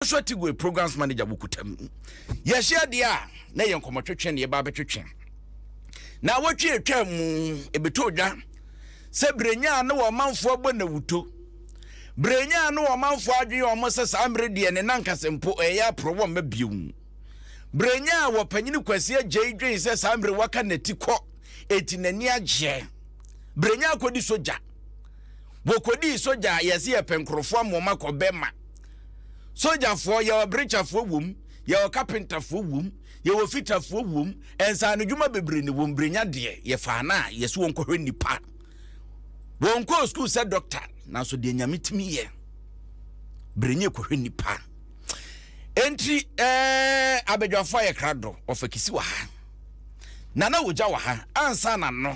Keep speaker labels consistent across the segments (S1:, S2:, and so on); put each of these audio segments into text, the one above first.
S1: Joshua Tigwe, Programs Manager wɔ Kutam. Yɛahyia deɛ a, na ɛyɛ nkɔmmɔtwetwe na yɛba abɛtwetwe. Na awɔtwe atwa mu, ɛbɛtɔ dwa sɛ Berenyaa ne wɔn manfoɔ abɔ nawuto. Berenyaa ne wɔn manfoɔ adwene yɛ wɔn sɛ saa mmerɛ deɛ ne nankasa mpo ɛyɛ aporɔ wɔn mma bio. Berenyaa wɔ panyini Kwasi Agyei dwen sɛ saa mmerɛ waka n'ati kɔ eti n'ani agyeɛ. Berenyaa kɔdi sogya. Wɔkɔdii sogya a yɛse yɛpɛ nkurɔfoɔ ama wɔn akɔ bɛma. sogyafoɔ yɛwɔ berekyafoɔ wom yɛwɔ kapentafoɔ wom yɛwɔ fitafoɔ wom nsaano dwuma bebree ne wɔn berenya deɛ yɛfaa no a yɛsɛ wɔn kɔhwɛ nnipa wɔn kɔɔ sukuu sɛ dɔkta nanso deɛ nyame tumi yɛ berenya kɔhwɛ nnipa enti ɛɛ abadwafoɔ a yɛkra do ɔfa kisi wɔ ha nana wogya wɔ ha ansa na no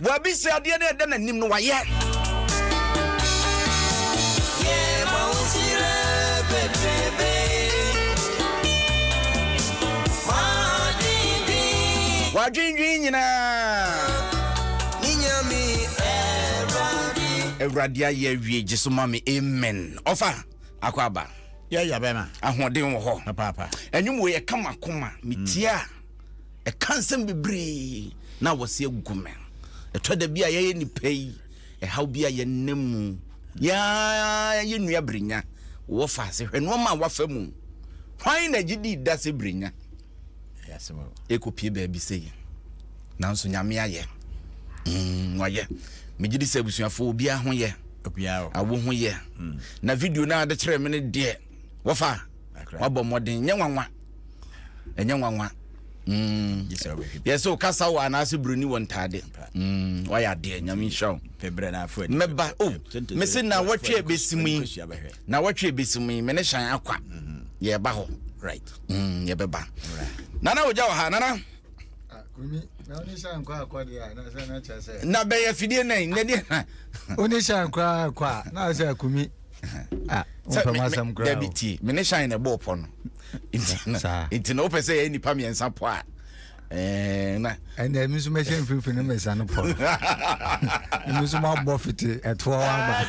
S1: Wabisa adeɛ no ɛda n'anim no wayɛ. Wadwendwen nyinaa. Awurade ayɛ awie gye so ma me amen ɔfa. akɔ aba yɛyɛ bɛma
S2: ahoɔden wɔ hɔ
S1: papaapa ɛnwom wei
S2: ɛka ma
S1: koma metie a ɛka nsɛm bebree na wɔsi agu me ɛtɔ da bi a yɛyɛ nipa yi ɛhaw bi a yɛnna mu yɛa yɛ nua birinya wɔ faase hwɛ nneɛma a wafa mu hwan na gye di da sɛ birinya
S2: ɛkɔpie baabi
S1: sei nanso nyame ayɛ mm, wayɛ megye di sɛ abusuafoɔ obiara ho yɛ awo ho
S2: yɛ
S1: mm. na video no ade kyerɛ me no deɛ wɔfa wabɔ mmɔden nyɛ nwanwa ɛnyɛ nwanwa mm. yɛ sɛ wokasa wɔ anaasɛ buroni wɔ ntaade wayɛ adeɛ nyame nhyira wo
S2: mɛba o oh,
S1: mese na wɔtwe bɛsim yi na wɔtwe bɛsim yi me ne hyɛn akwa mm-hmm. yɛba hɔ mm,
S2: yɛbɛba
S1: nana ogya wɔ ha nana
S3: na bɛyɛ fidie nɛ
S1: nɛ deɛ na wone shan
S3: koraa kɔ a na sɛ akumi
S1: dabi tie mene shan na ɛbɔɔ pɔ no nti na wopɛ sɛ yɛyɛ nnipa mmiɛnsa pɔ a Eh, na ɛnna ɛmi nso
S3: mɛhyɛ mfimfini mmɛsa no pɔ ɛmi nso mabɔ fiti ɛtoɔ waba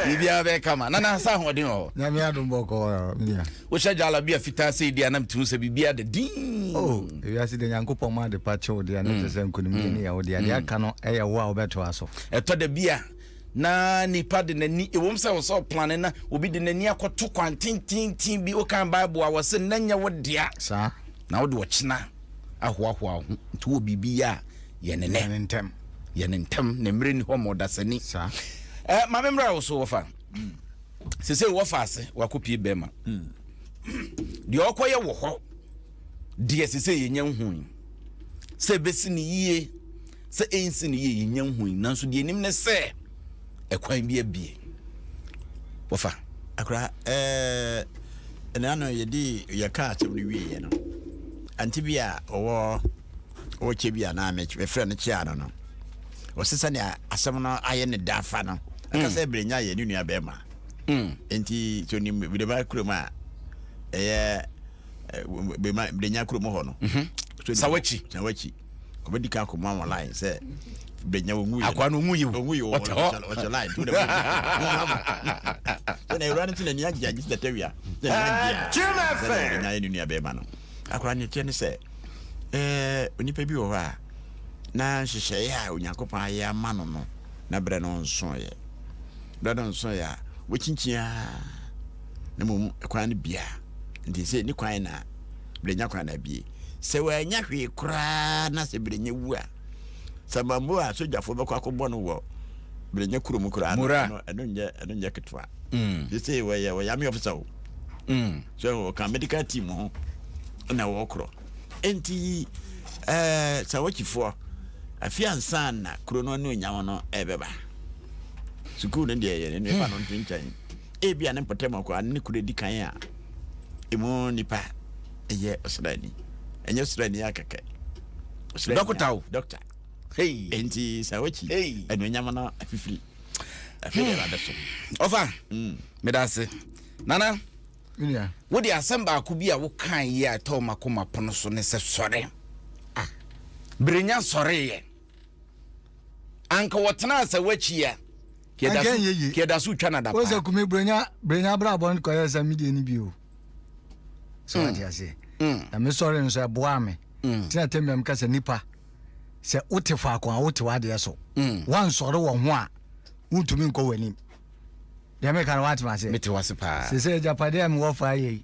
S3: biribiara
S1: bɛyɛ kama na nansa ahoɔden wɔ hɔ nyame adom bɔ kɔɔ
S3: mia wohyɛ gyala bi a
S1: fitaa sɛ ɛdi anam tumi sɛ biribiara da din oh, ewiase de
S3: nyankopɔn ma ade pa kyew deɛ ne te sɛ mm. nkonimdie
S1: ne
S3: yɛwo deɛ deɛ mm. aka no ɛyɛ
S1: wo
S3: a wobɛtoa so ɛtɔ da
S1: bi
S3: a na
S1: nipa de n'ani ewom sɛ wɔsɛ ɔplane na obi de n'ani akɔto kwan tententin bi wokan bible a wɔsɛ na nyɛ wo dea saa Na wode
S3: ɔkyena
S1: ahoahoa wo ho. Nti wowɔ biribi yɛ a, yɛ no nnɛ. Yɛ no ntɛm. Yɛ
S3: no ntɛm, na
S1: mmerɛ nni hɔ ma ɔdasani. Saa.
S3: Ɛ, ma me mmra
S1: wo so, wɔfa. Seesei wɔfa ase, wɔakɔpie bɛrima. Deɛ ɔrekɔyɛ wɔ hɔ deɛ seesei yɛnnya nhui. Sɛ ɛbɛsi no yie, Sɛ ensi no yie yɛnya nhui nanso deɛ nim ne sɛ ɛkwan bi abie. Wɔfa. Akora ɛɛ
S2: ɛna ano yɛde yɛ kaa kyɛm no wie yɛ no anti bi a ɔwɔ ɔwɔ kyɛ bi a naa mɛ mɛfrɛ no kyɛ ano no wɔsi sɛ nea asɛm no ayɛ ne da afa no akasa ebire nya yɛ ne nua bɛrima nti so ni bi de ba kurom a ɛyɛ bɛrima bɛrima kurom hɔ no sawachi
S1: sawachi
S2: ɔbɛdi kan kɔma wɔn line sɛ bɛnya wɔn nwuyi akwa no ɔmu yi ɔmu yi
S1: ɔte hɔ
S2: ɔhyɛ line tu na wɔn wɔn ma sɛ na ewura no ti na ni agye agye si tɛtɛ wia sɛ ni agye a sɛ na ɔbɛnya yɛ ne nua bɛrima no akora ne teɛ ne sɛ ɛɛ onipa bi wɔ hɔ a na nhyehyɛeɛ a onyankopɔn ayɛ ama no no na berɛ no nsoeɛ berɛ no nsoeɛ a wɔkyinkyin a na mmom kwan no bia nti sɛ ne kwan na berɛ nya kwan na abie sɛ wannya hwee koraa na sɛ Berenya wu a, Samambo a sogyafo bɛkɔ akɔbɔ no wɔ Berenya kurom koraa no, ɛno ɛno nyɛ ɛno nyɛ ketewa. Mm. They say wɔyɛ wɔyɛ army officer o. Mm. So wɔka medical team ho na wɔkorɔ. Enti ɛɛ eh, Sawakyifoɔ afi ansa na kuro no ne onyam no ɛbɛba. Sukuu no deɛ yɛ ne ne ba no nto nkyɛn. Ebia ne mpɔtam akoa ne ne kunu adi kan a emu nipa yɛ ɔsraani. Ɛnyɛ ɔsraani a kɛkɛ. Dɔkota
S1: o. Dɔkta.
S2: Enti sɛ wakyi anuonyam no afifiri. Afei deɛ ɛwɔ so. Ɔfa,
S1: hmm. meda ase. Nana,
S3: wode asɛm
S1: baako bi a wokae yi a ɛtɔɔ m'akoma pono so ne sɛ sɔre. Ah, berenya sɔreeɛ. anka wɔtena asaw akyi a kɛda so twa nadapa sɛ kume brɛnya
S3: brɛnya abrabɔ no kɔyɛ sɛ medeɛ no bio sɛ wate mm. aseɛ mm. na mesɔre no so ɛboaa me mm. tena tɛm biam ka sɛ nipa sɛ wote faako a wote w'adeɛ so woansɔre wɔ ho a wontumi nkɔ w'anim deɛ meka no woatema aseɛ sɛ sɛ
S1: agyapadeɛ a mewɔ
S3: faa yɛi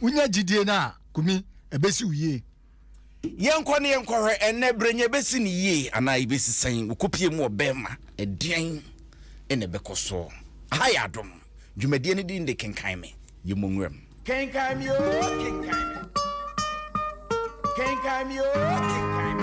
S3: Wonya gyidie no a, Kumi, ɛbɛsi wo yie. Yɛnkɔ
S1: na yɛnkɔhwɛ ɛnnɛ berɛ nya ɛbɛsi no yie anaa ɛbɛsi sɛn wɔ kopie mu wɔ Burma. Ɛdeɛn na ɛbɛkɔ so? Aha yɛ Adom, dwumadie no din de Kenkan Me. Yɛmmɔ nwuram. Kenkan me oo, kenkan me. Kenkan me oo, kenkan me.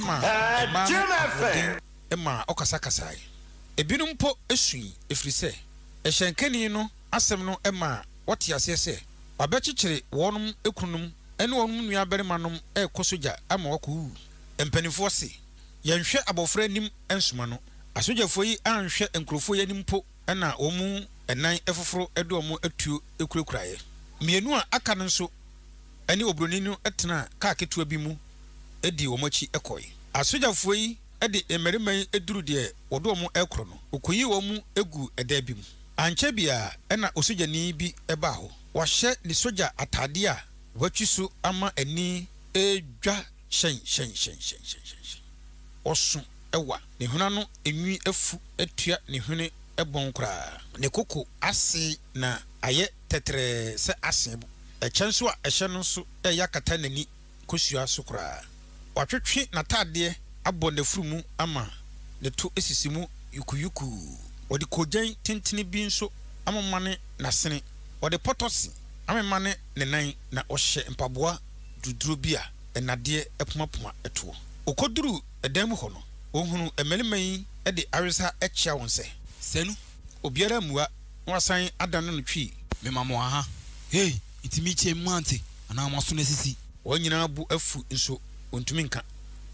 S4: ma mmaa no ahoɔden ma wɔkasakasae. Ebinom mpo sui ɛfiri sɛ hyɛnkani no asɛm no maa wɔtee aseɛ sɛ wɔabɛkyekyere wɔnom kununom ne wɔnom nuabarimanom rekɔ sogya ama wɔakɔwuwu. Mpanimfoɔ se, Yɛnhwɛ abɔfra anim nsoma no. Asogyafoɔ yi anhwɛ nkurɔfoɔ yi anim mpo na wɔn nan foforo de wɔn atuo kurakuraeɛ. Mmienu a aka no nso. ne oburoni no tenaa kaa ketewa bi mu dii wɔn akyi kɔe. Asogyafo yi de mmarima yi duruu deɛ wɔde wɔn rekɔrɔ no, wɔkɔyii wɔn mu guu ɛdan bi mu. Ankyɛ biara na osogyani bi baa hɔ. Wahyɛ ne sogya atadeɛ a watwi so ama ani redwa hyɛnhyɛnhyɛnhyɛnhyɛnhyɛn. Ɔso wa, ne hwene ano nwi afu atua ne hwene bɔn koraa. Ne koko ase na ayɛ tɛtrɛɛ sɛ asen bo. Ɛkyɛ nso a ɛhyɛ no nso reyɛ akata n'ani kosua so koraa. Watwetwe n'atadeɛ abɔ n'afuru mu ama ne to asisi mu yukuyukuu. Wɔde koogyan tentene bi nso amemane n'asene. Wɔde pɔtɔse amemane ne nan, na ɔhyɛ mpaboa duruduro bi a nnadeɛ apumapuma toɔ. Ɔkɔduruu dan mu hɔ no, ɔhunuu mmarima yi de awerehyɛ kyea wɔn sɛ. Sɛ nu
S5: Obiara ammua
S4: na wasan adane no twi. Mema mo aha,
S5: ei, enti mekyea mu ante anaa mo aso no asisi? Wɔn nyinaa bo
S4: afu nso wɔntumi nka.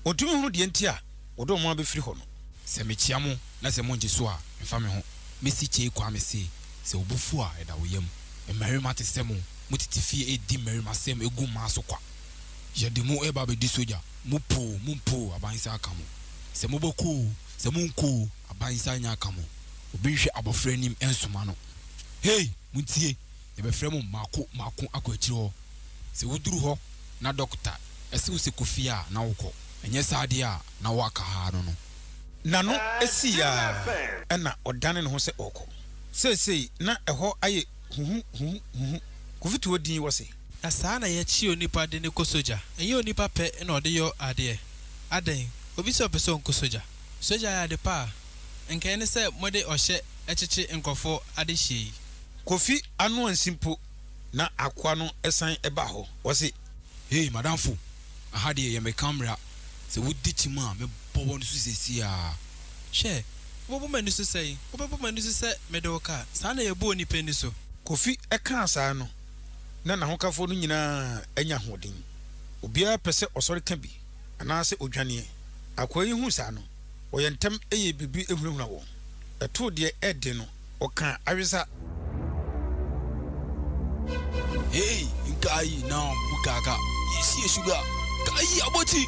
S4: Wɔntumi nhunu deɛ enti a wɔde wɔn abɛfiri hɔ no. Sɛ mekyea mo
S5: na sɛ mongye so a, mfa me ho. Mesi Kyei Kwame se, Sɛ wo bo fu a, ɛda wo yam. Mmarima te sɛ mo, motete fie redi mmarimasɛm gu mmaa so kwa. Yɛde mo reba abɛdi sogya, mopoo, mompoo, aban nsa aka mo. Sɛ mobɛkɔ oo, Sɛ monkɔ oo, aban nsa nyɛ aka mo, obi nhwɛ abɔfra anim nsoma no. Hei! Montie! Yɛbɛfrɛ mo mmaako mmaako akɔ akyiri hɔ. Sɛ woduru hɔ na dɔkota se wo sɛ kɔ fie a, na wokɔ. Ɛnyɛ saa deɛ a, na woaka ha no no. N'ano
S4: sii ara, ɛnna ɔdanee ne ho sɛ ɔrekɔ. Seesei na ɛhɔ ayɛ huhuhuhuhu. Kofi too din hɔ se. Na saa na yɛkye
S6: onipa de no kɔ sogya. Ɛnyɛ onipa pɛ na ɔde yɔ adeɛ. Adɛn, obi sɛ ɔpɛ sɛ ɔnkɔ sogya? Sogya yɛ ade pa a. Nka ɛne sɛ mode ɔhyɛ kyekye nkorɔfoɔ adehyeɛ yi. Kofi
S4: ano ansi mpo na akoa no san ba hɔ. Ɔse. Hey madamfo,
S5: aha deɛ yɛ me camera, sɛ wodi kyim a mɛbɔ wo ani so seesei ara. Hwɛ,
S6: wobɛbɔ m'ani so sɛn? Wobɛbɔ m'ani so sɛ mede wo kaa? Saa na yɛbɔ onipa ani so. Kofi kaa
S4: saa no, na n'ahokafo no nyinaa anya ahoɔden. Obiara pɛ sɛ ɔsɔre ka bi anaasɛ odwane. Akoa yi huu saa no, ɔyɛɛ ntɛm yɛɛ biribi hunahunaa wɔn. Ɛtoo deɛ ɛyɛ den no, ɔkaa awesa.
S5: Hei, nka ayi na bukaka, yɛnsi yɛ suga, ka ayi abɔti.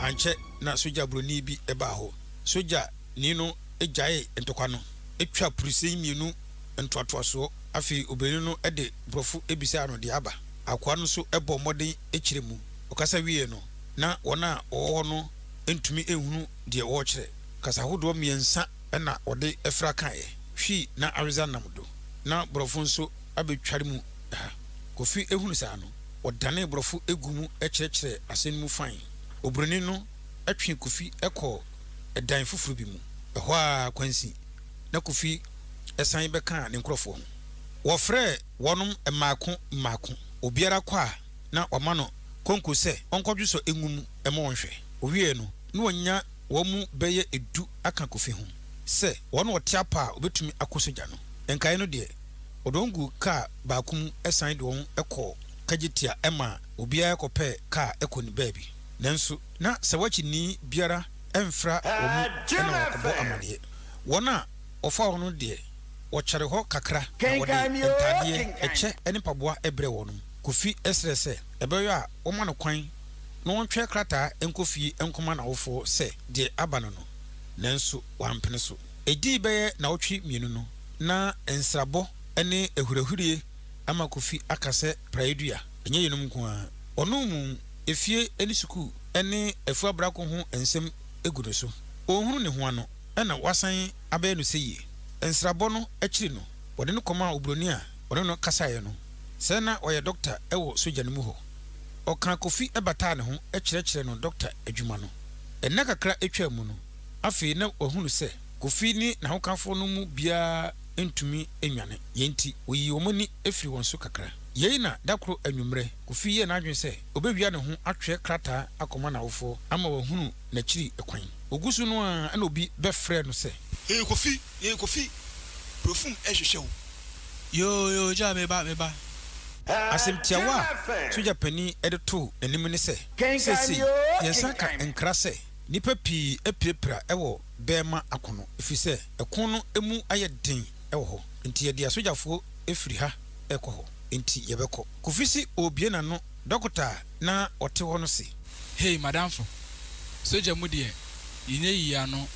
S4: Ankyɛ na sogya buroni bi baa hɔ. Sogyani no gyaee ntɔkwa no, twaa purusɛi mmienu ntoatoasoɔ. Afei obani no de borɔfo bisaa no deɛ aba. Akoa no nso bɔɔ mmɔden kyerɛ mu. Ɔkasa wieeɛ no, na wɔn a wɔwɔ hɔ no ntumi nhunu deɛ ɔrekyerɛ. Kasa hodoɔ mmiɛnsa na ɔde fra kaeɛ, Twi na Aridza nam do. Na borɔfo nso abɛtware mu ha. Kofi hunu saa no, ɔdanee borɔfo gu mu kyerɛkyerɛɛ asɛm no mu fann. Oburoni no twee Kofi kɔɔ dan foforo bi mu. Ɛhɔ ara kwansin na Kofi. san bɛkaa ne nkurɔfoɔ ho. Wɔfrɛɛ wɔnom mmaako mmaako, obiara kɔ a na wɔama no konko sɛ ɔnkɔdwe sɔ ngo mu mma wɔn nhwɛ. Ɔwieeɛ no, na wɔanya wɔn mu bɛyɛ du aka Kofi ho sɛ wɔn na wɔte apa a wɔbɛtumi akɔ sogya no. Nkaeɛ no deɛ, wɔde wɔn guu kaa baako mu san de wɔn kɔɔ Kagyetia maa obiara kɔpɛɛ kaa kɔ ne baabi. Nanso na Sawakyinii biara mfra wɔn mu na wɔkɔbɔ amaneɛ. Wɔn a wɔfa hɔ no deɛ, wɔkyɛre hɔ kakra na wɔde ntadeɛ, ɛkyɛ ne mpaboa brɛ wɔn. Kofi srɛ sɛ ɛbɛyɔ a wɔmma no kwan na ɔntwerɛ krataa nkɔ fie nkɔma n'awofoɔ sɛ deɛ aba no no, nanso wampene so. Ɛdii bɛyɛ nnawɔtwe mmienu no, na nsrabɔ ne ahurahuraie ama Kofi aka sɛ praeɛdua. Ɛnyɛ yeinom nko ara, ɔno mu efie ne sukuu ne afuo abrako ho nsɛm gu ne so. Ɔnhunu ne ho ano. na wɔasan abɛyɛ no sɛ yie. Nsrabɔ no akyiri no, wɔde no kɔmaa oburoni a ɔne no kasaeɛ no. Sɛ na ɔyɛ dɔkta wɔ sogya no mu hɔ. Ɔkaa Kofi bataa ne ho kyerɛkyerɛɛ no dɔkta adwuma no. Nna kakra twaa mu no, afei na wɔahunu sɛ Kofi ne n'ahokafoɔ no mu biara ntumi nnwane. Yei nti, wɔyii wɔn ani firii wɔn so kakra. Yei na da koro anwummerɛ, Kofi yɛɛ n'adwene sɛ ɔbɛwia ne ho atwerɛ krataa akɔma n'awofoɔ ama wɔahunu n'akyiri kwan. Ogu so no ara na obi bɛfrɛ no sɛ. Yɛyɛ Kofi, yɛyɛ Kofi,
S5: Brofum rehwehwɛ wo. Yoo yoo
S6: Gyaa meba, meba.
S4: Asɛm tiawa a sogya panin de too n'anim ne sɛ, Seesei yɛnsan ka nkra sɛ nnipa pii apirapira wɔ bɛɛma ako no ɛfiri sɛ ɛko no mu ayɛ den wɔ hɔ nti yɛde asogyafoɔ firi ha rekɔ hɔ nti yɛbɛkɔ. Kofi se ɔrebue n'ano, Dɔkota a. na ɔte hɔ no se. Hei m'adamfo,
S5: sogya mu deɛ yɛnya yii ano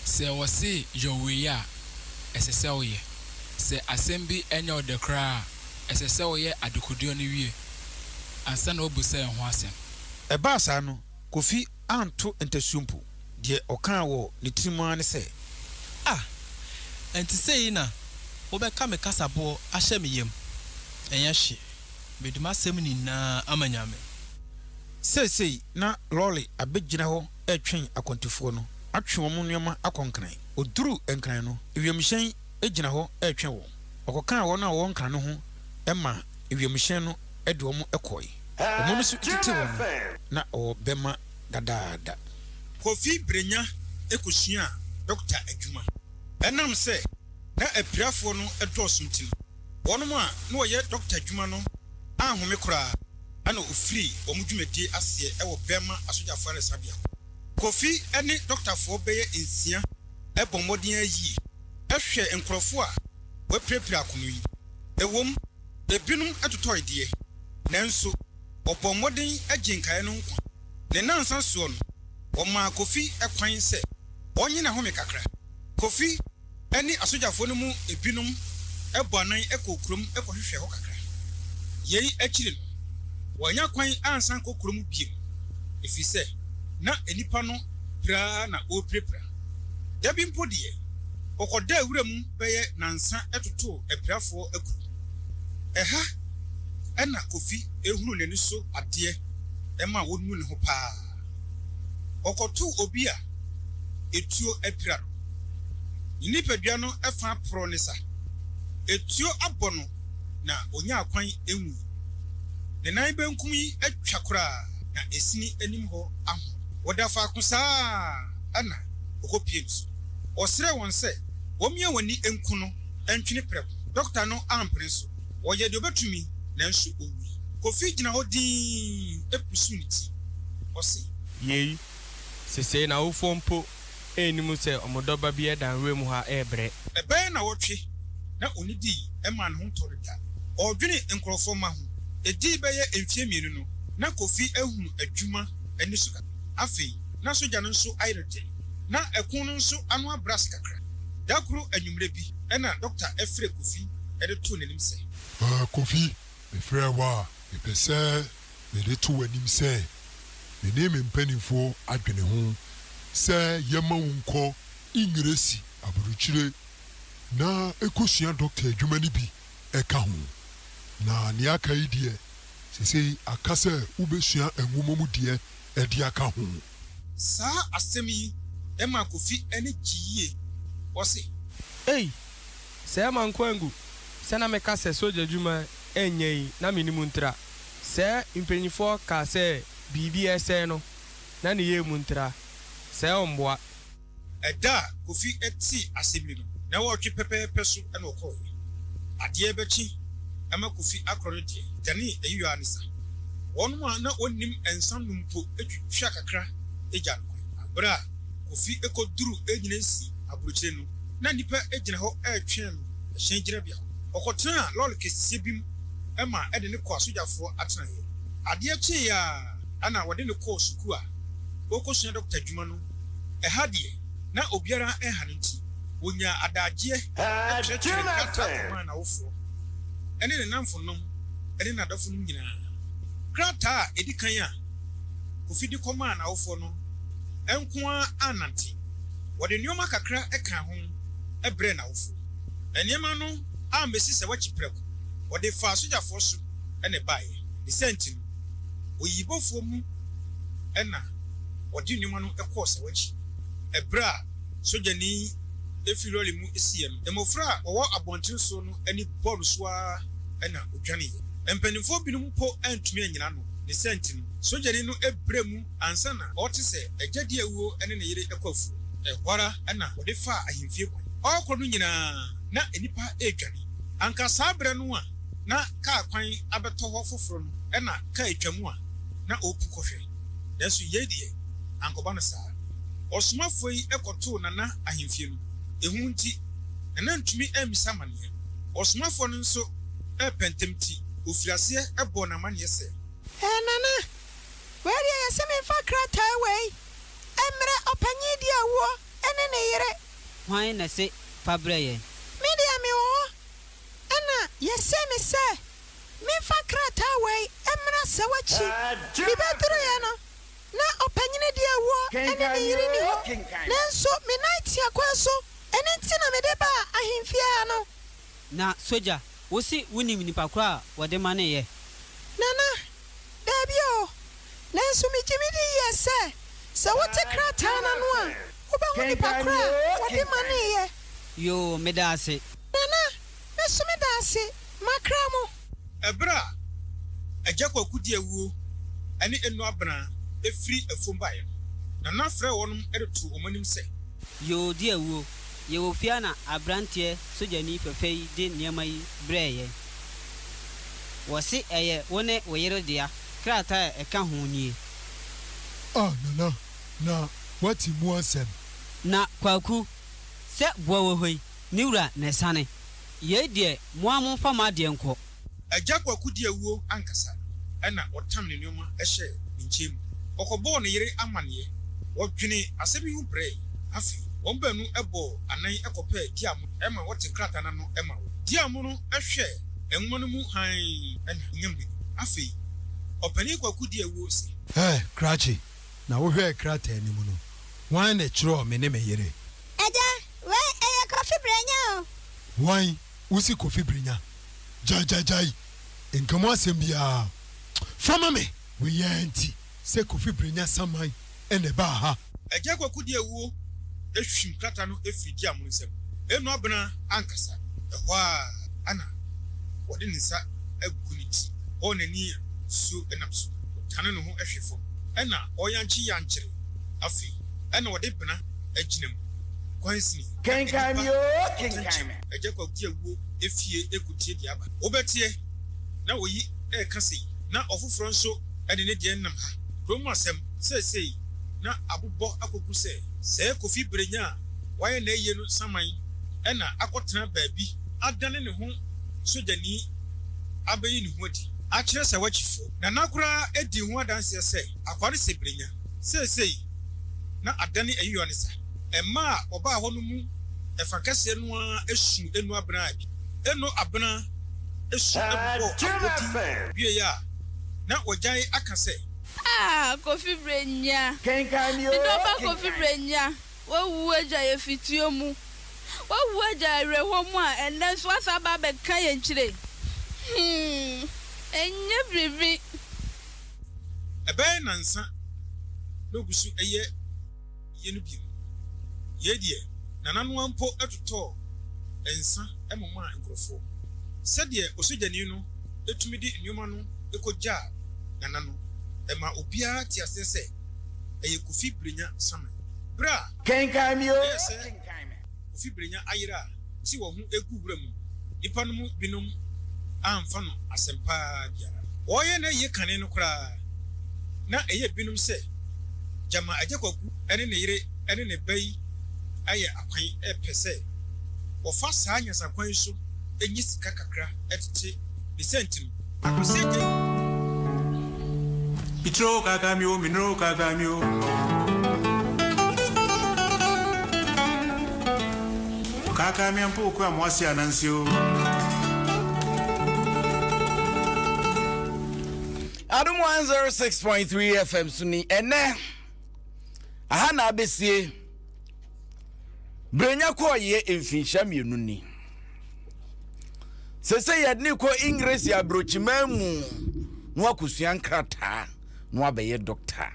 S5: sɛ wɔse yɔ wei a, ɛsɛ sɛ woyɛ. Sɛ asɛm bi nyɛ wo dɛ koraa a, ɛsɛ sɛ woyɛ adekodeɛ no wie ansa na woabisa ɛho asɛm. Ɛbaa saa no,
S4: Kofi anto ntasuo mpo. Deɛ ɔkaa wɔ ne tirim ara ne sɛ. Ah!
S6: Ɛnti sei na wobɛka me kasaboɔ ahyɛ me yam? Ɛnyɛ hwee. Mede m'asɛm nyinaa ama Nyame. Seesei
S4: na lɔre abɛgyina hɔ retwe akwantufoɔ no, atwe wɔn nneɛma akɔ Nkran. Ɔduruu Nkran no, wiemhyɛn gyina hɔ retwɛn wɔn. Ɔkɔkaa wɔn a wɔwɔ Nkran no ho maa wiemhyɛn no de wɔn kɔe. Wɔn nso tetee wɔn ho na wɔbɛma dadaada. Kofi Brenya kɔsuaa dɔkta adwuma. Ɛnam sɛ na apirafoɔ no dɔɔso nti no, Wɔnom a na wɔyɛ dɔkta adwuma no anhome koraa na ɔfirii wɔn dwumadie aseɛ wɔ Burma asogyafoɔ ayaresabea hɔ. Kofi ne dɔktafoɔ bɛyɛ nsia bɔ mmɔden ara yie hwɛɛ nkorɔfoɔ a wɔapirapira akono yi. Ɛwom, ebinom totɔe deɛ, nanso wɔbɔɔ mmɔden gyee nkaeɛ no nkwa. Ne nnansa soɔ no, wɔmaa Kofi kwan sɛ ɔnnye n'ahome kakra. Kofi. ne asogyafoɔ no mu binom bɔ anan kɔɔ kurom kɔhwehwɛɛ hɔ kakra. Yei akyiri no, wɔannya kwan ansan ankɔ kuro mu bio, ɛfiri sɛ na nnipa no pira ara na wɔrepirapira. Da bi mpo deɛ, wɔkɔdaa wura mu bɛyɛ nnansa totoo apirafoɔ akuro. Ɛha na Kofi hunuu n'ani so adeɛ maa ɔnuu ne ho pa ara. Wɔkɔtoo obi a etuo apira no. Ne nipadua no fã porɔw ne sa. Etuo abɔ no na onyaa kwan nwui. Ne nan benkum yi atwa koraa na esini anim hɔ ahon. Wɔda faako saa ara na okopue nsu. Ɔsrɛɛ wɔn sɛ wɔmmia wɔn ani nku no ntwene prɛko. Dɔkta no ampene so. Ɔyɛɛ deɛ ɔbɛtumi, nanso ɔwui. Kofi gyina hɔ dinn pusu ne ti. Ɔse. Yei,
S7: sesei n'awofoɔ mpo nnim sɛ wɔn dɔba bi reda nwuram hɔ rebrɛ. Ɛbɛyɛ nnawɔtwe
S4: na ɔnnidii ɛmaa ne ho ntɔ no da. Ɔredwene nkorɔfoɔ mma ho. Ɛdii bɛyɛ mfeɛ mmienu no, na Kofi ahunu adwuma ani so kakra. Afei, na sogya no nso ayere den. Na ɛko no nso ano abrɛ ase kakra. Da koro anwummerɛ bi. Ɛna Dɔkta Ɛfrɛ Kofi de too
S8: n'anim sɛ. Haa Kofi, mefrɛɛ wo a, mepɛ sɛ mede to w'anim sɛ me ne me mpaninfoɔ adwene ho sɛ yɛmma wo nkɔ Engiresi aburukyire na kɔsua dɔkta adwuma no bi ka ho. Na nea aka yi deɛ, seesei aka sɛ wobɛsua nwoma mu deɛ de aka ho. Saa
S4: asɛm yi maa Kofi ani gyee yie. Ɔse. Ei!
S7: Sɛɛ mankɔ angu sɛ na meka sɛ sogya adwuma nyɛ yi na me ne mu ntra. Sɛ mpanyinfoɔ kaa sɛ biribi ɛsɛe no na ne yɛɛ mu ntra. Sɛ ɔmboa. Ɛda
S4: a Kofi tee asɛm yi no, nnawɔtwe pɛpɛɛpɛ so na ɔkɔe. Adeɛ rebɛkye ma Kofi akorɔ no deɛ, danee ayuaa ne sa. Wɔnom a na wɔnnim nsa nom mpo twitwaa kakra gyaa no kwan. Berɛ a Kofi kɔduruu Enyinansi aburokyire no, na nnipa gyina hɔ retwɛn no hyɛn gyinabea hɔ. Ɔkɔtenaa lɔre kɛseɛ bi mu ma ɛde no kɔɔ asogyafoɔ atenaeɛ. Adeɛ kyeeɛ ara na wɔde no kɔɔ sukuu a ɔrekɔsua dɔkta adwuma no. Ɛha deɛ, na obiara nha no nti, wɔnyaa adagyeɛ twerɛtwerɛɛ krataa kɔmaa n'awofoɔ ne ne nnamfonom ne n'adɔfonom nyinaa. Krataa a ɛdi kan a Kofi de kɔmaa n'awofoɔ no nko ara annante. Wɔde nneɛma kakra kaa ho brɛɛ n'awofoɔ. Nneɛma no ammɛsi sɛ wɔakyi prɛko, wɔde faa sogyafoɔ so na ɛbaeɛ. Ne saa nti no, oyiyibofoɔ mu na. wɔde nneɛma no kɔɔ Sawachi bere a sogyani yi fi lɔre mu siiɛ no, mmofra a wɔwɔ abɔnten so no ani bɔɔ no so ara na odwaneeɛ. Mpanimfoɔ binom mpo antumi annyina ano. Ne saa nti no, sogyani no brɛɛ mu ansa na ɔrete sɛ agya di awuo ne ne yere kɔ afuo. Ɛhɔ ara na wɔde faa ahemfie kwan. Ɔrekɔ no nyinaa, na nnipa redwane. Anka saa bere no a na kaa kwan abɛtɔ hɔ foforo no na kaa twaam a na ɔrepu kɔhwɛ. Nanso yei deɛ, ankɔba no saa. Ɔsomafoɔ yi kɔtoo Nana ahemfie no. Ehu nti, Nana antumi ammisa amaneɛ. Ɔsomafoɔ no nso repɛ ntɛm nti, ɔfirii aseɛ bɔɔ no amaneɛ sɛ. Ɛɛ Nana,
S9: wei deɛ yɛse memfa krataa wei mmrɛ ɔpanyin di awuo ne ne yere. Hwan na ɛse
S10: fa brɛ yɛn? Me deɛ mewɔ
S9: hɔ. Ɛna yɛsee me sɛ memfa krataa wei mmra sɛ w'akyi. Mebɛduruiɛ no, na ɔpanyini deɛ awuo ne ne yere nni hɔ, nanso me nan tia kwan so, ɛno nti na mede baa ahemfie ha no. Na sogya,
S10: wo se wonim nipa korɔ a wɔde maneeɛ? Nana,
S9: Daabi oo, nanso megye me di yie sɛ, sɛ wote krataa no ano a, wobɛhu nipa korɔ a wɔde maneeɛ. Yoo, meda
S10: ase. Nana,
S9: Mɛso me danse makra mo. Ɛberɛ a
S4: Agya Kwaku de awuo ne Eno Abena firi afuom baeɛ no, Nana frɛɛ wɔnom de too wɔn anim sɛ. Yoo de awuo,
S10: yɛwɔ fie ha na abranteɛ sogyani fɛfɛ yi de nneɛma yi brɛɛ yɛn. Wɔse ɛyɛ wo ne wo yere dea, krataa a ɛka ho nie. Ah
S8: Nana, na woate mu asɛm? Na Kwaku,
S10: sɛ boɔ wɔ hɔ yi. Me wura na asiane. Yei deɛ mo ara momfa mo adeɛ nkɔ. Agya Kwaku di
S4: awuo ankasa na ɔtam ne nnoɔma hyɛɛ ne nkyɛn mu. Ɔkɔbɔɔ ne yere amanneɛ. Wɔdwenee asɛm yi ho brɛɛ. Afei wɔn baanu bɔɔ anan kɔpɛɛ Diamo ma ɔte krataa no ano ma wɔn. Diamo no hwɛɛ nwoma no mu hann na ɔnyaa mmirika. Afei Ɔpanin Kwaku di awuo se. Hɛ, Krakye,
S8: na wohwɛɛ krataa no mu no, hwan na ɛtwerɛɛ me ne me yere? Agya,
S9: wei ɛyɛ Kofi Brenya o. Hwan?
S8: Wosi Kofi Brenya? Gyae gyae gyae, nka mu asɛm biara fa ma me. Wei ara nti sɛ Kofi Brenya saman na ɛbaa ha. Agya Kwaku de awuo
S4: ahwim krata no firi Diamono nsam. Ɛnnu abena ankasa, ɛhɔ ara na ɔde ne nsa agu ne ti hɔ n'ani a nsuo nam so. Ɔdane ne ho hwe fam na ɔyankye yankyere. Afei na ɔde bena agyina mu. Kwansini. Kenkan me
S1: oo, kenkan me. Agya Kwaku gye awuo
S4: efie eko tie deɛ aba. Wo bɛteɛ na oyi reka sei na ɔfoforɔ nso de ne deɛ nam ha. Kurom mu asɛm seesei na abobɔ akɔgu sɛ sɛɛ Kofi Berenya a wayɛ n'ayie no saman na akɔtena baabi adane ne ho sogyani abɛyi ne ho adi akyerɛ sɛ wakyi fo. Nana koraa di ho adanseɛ sɛ akoa no sɛ Berenya seesei. na adane ayiyɔ ne sa. Mma a wɔbaa hɔ no mu ɛfa kɛseɛ no ara suu Eno Abena bi. Eno Abena su bobɔɔ abodin wieeɛ a, na wɔagyae aka sɛ. Ah Kofi
S11: Brenya, me
S1: dɔba Kofi Brenya,
S11: wawu agya yɛ fituo mu, wawu agya yɛ awerɛhoɔ mu a ɛnnɛ nso woasan aba abɛka yɛn kyire yi. Humm, ɛnyɛ biribi.
S4: Ɛbɛyɛ nnansa na ogu so yɛ yɛ no bio. Yei deɛ, Nana no ara mpo totɔɔ nsa momaa nkurɔfoɔ. Sɛdeɛ osogyani no tumi de nneɛma no kɔgyaa Nana no, ɛmaa obiara tee aseɛ sɛ ɛyɛ Kofi Brenya saman. Berɛ a ɛyɛɛ
S1: sɛ.
S4: Kofi Brenya ayera a ɔse wɔn ho regu wura mu nnipa no mu binom amfa no asɛm pa ara biara. Wɔreyɛ n'ayie kane no koraa, na ɛyɛ binom sɛ gyama Agya Kwaku ne ne yere ne ne ba yi ayɛ akwan repɛ sɛ wɔfa saa nyansakwan yi so nya sika kakra tete ne sɛntino. Akoseɛgye
S12: Mituro kaka mi o Minuro kaka mi o Kaka mi ampo oku amoase ananse o
S1: Adom 106.3 FM so ni ɛnɛ aha na abesie Brenya kɔɔyeɛ mfinhyia mmienu ni Sese yɛde no kɔ Engiresi abrokyiman mu na wakosua nkrataa na wabɛyɛ dɔkta.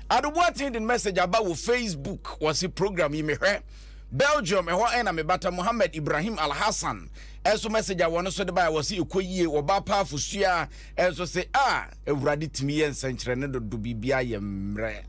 S1: Adoboaten de message aba wɔ Facebook wɔse program yi mehwɛ Belgium ɛhɔ ɛna mebata Mohammed Ibrahim Al Hassan ɛso message a wɔn so de baeɛ wɔse ɛkɔ yie wɔba apaafo sua ɛnso se a awurade tumi yɛ nsɛnkyerɛnne dodo biribiara yɛ mmerɛ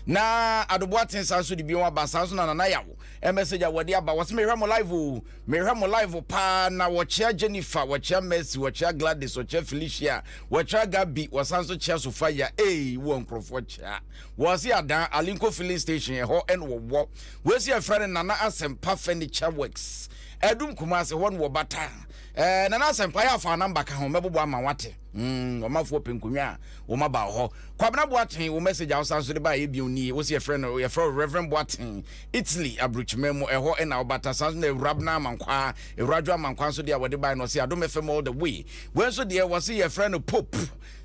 S1: na Adoboaten san so de bio aba saa nso na nanayaw Ɛ message a wɔde aba wɔse mehwɛ mo live oo mehwɛ mo live paa na wɔkyea Jennifer wɔkyea Mercy wɔkyea Gladys wɔkyea Felicia wɔkyea Gabi wɔsan so kyea Sofia ei wɔ nkurɔfoɔ kyea wɔse adaa Alinko filling station ɛhɔ ɛna wɔwɔ wɔsi ɛfrɛ no Nana Asɛmpa Furniture Works ɛdum Kumase hɔ na wɔbata ɛɛ Nana Asɛmpa yɛ afa namba ka ho mɛbobɔ ama wate Mm, ɔmanfoɔ pɛ nkonnwa a wɔn aba hɔ. Kwabena Boateng, wo message a wosan so de baayɛ bio nie. Wo se yɛfrɛ no yɛfrɛ wo Reverend Boateng, Italy aburokyima mu ɛhɔ ɛna ɔbata. San so na Ewurabena Amankwaa, Ewuradwo Amankwaa nso deɛ a wɔde bae no ɔse Adom FM all the way. Wei nso deɛ wɔse yɛfrɛ no Pope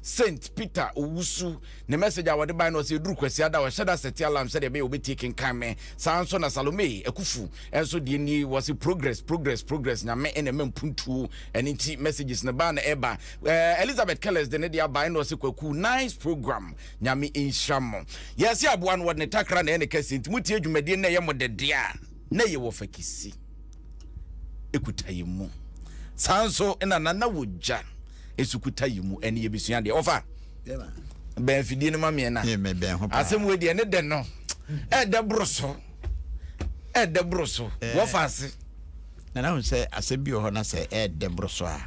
S1: Saint Peter Owusu. Ne message a wɔde bae no ɔse eduru Kwasiada ɔhyɛ da sɛte alarm sɛdeɛ ɛbɛyɛ obetie kenkan me. Saa nso na Salome Akufu nso deɛ nie wɔse progress progress progress Nyame ɛna ɛma mpuntuo. Ɛno nti messages no baa na ɛba. Eh, Elizabeth Kellers de ne de aba ɛna ɔse kwaku nice program nyame nhyira mo. Yɛse aboa no wɔde ne takra na ɛyɛ ne kɛse nti motie dwumadie na ɛyɛ mo dede a na ɛyɛ wɔ fakisi ɛkuta yɛ mu. Saa nso na nana wɔ gya ɛso kuta yɛ mu ɛne yɛbɛsua deɛ ɔfa bɛn afidie no ma meɛ na asɛm wɔ deɛ ne dɛ no ɛdɛ boro so ɛdɛ boro so wɔfa ase Na na ɔhu
S2: sɛ asɛm bi wɔ hɔ na sɛ ɛyɛ dɛ boro so a,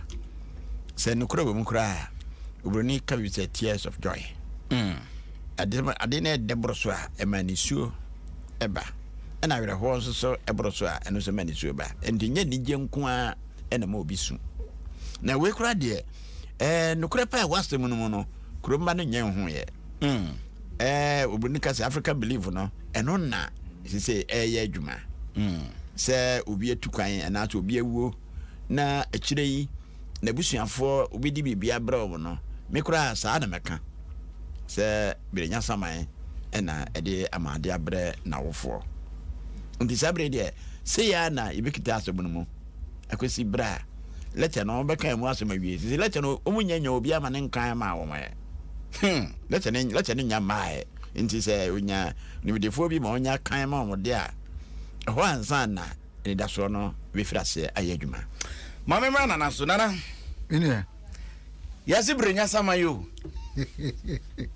S2: sɛ nokorɛ wɔ mu koraa a, Oburoni ka bi sɛ tears of joy. Mm. Ade, ade no yɛ dɛ boro so a, ɛma nisuo ba. Ɛna awerɛhoɔ nso so boro so a, ɛno nso ma nisuo ba. Ɛnti nyɛ anigyeɛ nko ara ɛna ɛma obi su. Na wei koraa deɛ, ɛɛ, nokorɛ paa ɛwɔ asɛm no mu no, Kuromba no nyɛ nhuuɛ. Mm, ɛɛ eh, obi no ka sɛ Africa Believe no, ɛno na sese ɛyɛ adwuma. Mm, sɛ obi atu kwan anaasɛ obi awuo na akyire yi n'abusuafoɔ obi di biribi abrɛ wɔn no, me koraa saa na mɛka sɛ birenya saman ɛna ɛde ama ade abrɛ n'awofoɔ. Nti saa bere deɛ sɛ yɛ na yɛbɛkita asɛm no mu akɔsi berɛ a lɛtɛ no wɔbɛka mu asɛm awie sisi lɛtɛ no wɔn nyɛ nyɛ obi ama ne nkan ma wɔn ɛ Hmm, lɛkyɛ ne lɛkyɛ ne nya mmaeɛ. Nti sɛ onya nimdefoɔ bi ma ɔnya kan ma wɔn de a, ɛhɔ ansa na anidasoɔ no bɛfiri aseɛ ayɛ adwuma. Ma me mmra
S1: Nana so, Nana. Me nua.
S3: Yɛase
S1: berɛ nya sama yi o.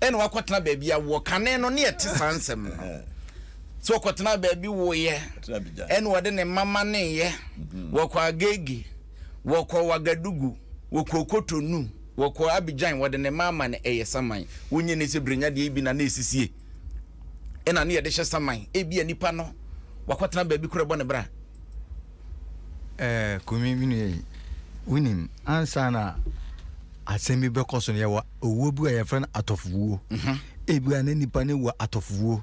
S1: Ɛna wakɔtena baabi a wɔ kane no ne ɛte saa nsɛm no. Eh. Sɛ ɔkɔtena baabi woyɛ. Ɛna ɔde ne mama ne yɛ. Mhm. Wɔkɔ agege. wɔkɔ Wagadugu, wɔkɔ Kotonu, wɔkɔ Abidjan, wɔde ne mama no ɛyɛ saman. Wonye ne sɛ brenya deɛ ebi na na ɛsisie, ɛna ne yɛde hyɛ saman. Ebi a nipa no wakɔtena baabi koro ɛbɔ ne bra. Ɛɛ
S3: Kumi me nua yi, wonim ansa na asɛm bi bɛkɔ so no yɛwɔ owuo bi a yɛfrɛ no atɔfowuo. Ebi a na nipa no wɔ atɔfowuo.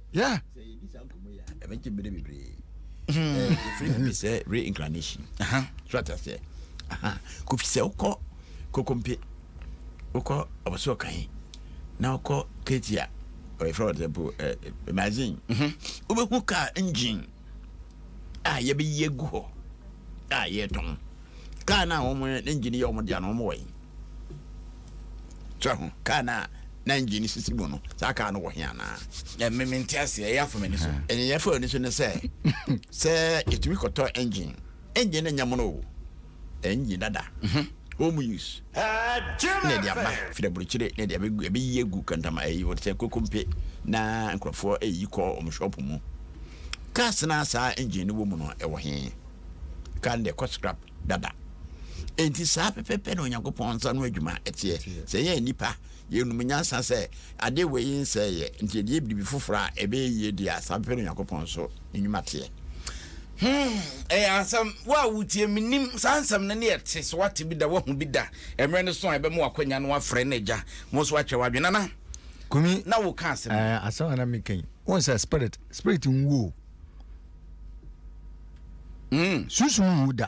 S3: Yeah.
S2: Ɛbɛgye bere bebree. Ɛfiri hmm. bi sɛ reincarnation. So ate aseɛ. Kofi sɛ wokɔ kokompe wokɔ ɔbɔsɛ ɔka he na wokɔ ketia ɔyɛfrɛ wɔde mpo imagine wobɛhu car engine a yɛbɛyi agu hɔ a yɛretɔn. Kaa no a wɔn ne engine yɛ wɔn dea no, wɔn wɔ he? So ho kaa no a na engine sisi mu no, saa kaa no wɔ he anaa? Ɛmɛ mi nti ase ɛyɛ
S1: afɔ m'ani so. Ɛyɛ afɔ m'ani so ne
S2: sɛ sɛ yɛtumi kɔtɔ engine, engine no nyɛ mono o. Enye dada. Mhm. Home use na ɛde aba. Firi aburokyire na ɛde ɛbɛyi agu kantama ɛyi wɔde sɛ kokompe na nkurɔfoɔ ɛyi kɔ wɔn shop mu. Cars no a saa engine no wɔ mu no ɛwɔ he? Car no deɛ ɛkɔ scrap dada. Enti saa pɛpɛpɛ na Onyankopɔn nsa ano adwuma ɛteɛ. Sɛ yɛn nnipa Yɛnum nyansa sɛ adeɛ wei yi nsɛe yɛ, nti yɛde yɛ biribi foforɔ a ɛbɛyɛ yie deɛ a, saa pɛpɛ na Onyankopɔn nso ne nnwuma teɛ. Hmm, ɛyɛ
S1: asɛm. Wo a wotie, mennim saa nsɛm no ne ɛte, sɛ woate bi da, woahu bi da, mmerɛ no so a ɛbɛma w'akwanya na woafrɛ no agya mo nso woakyerɛ w'adwene. Nana, Kumi, na
S3: woka asɛm bi. Ɛɛ,
S1: asɛm a na meka yi,
S3: wohu sɛ spirit, spirit nwu o. Hmm. Sunsum nwu da.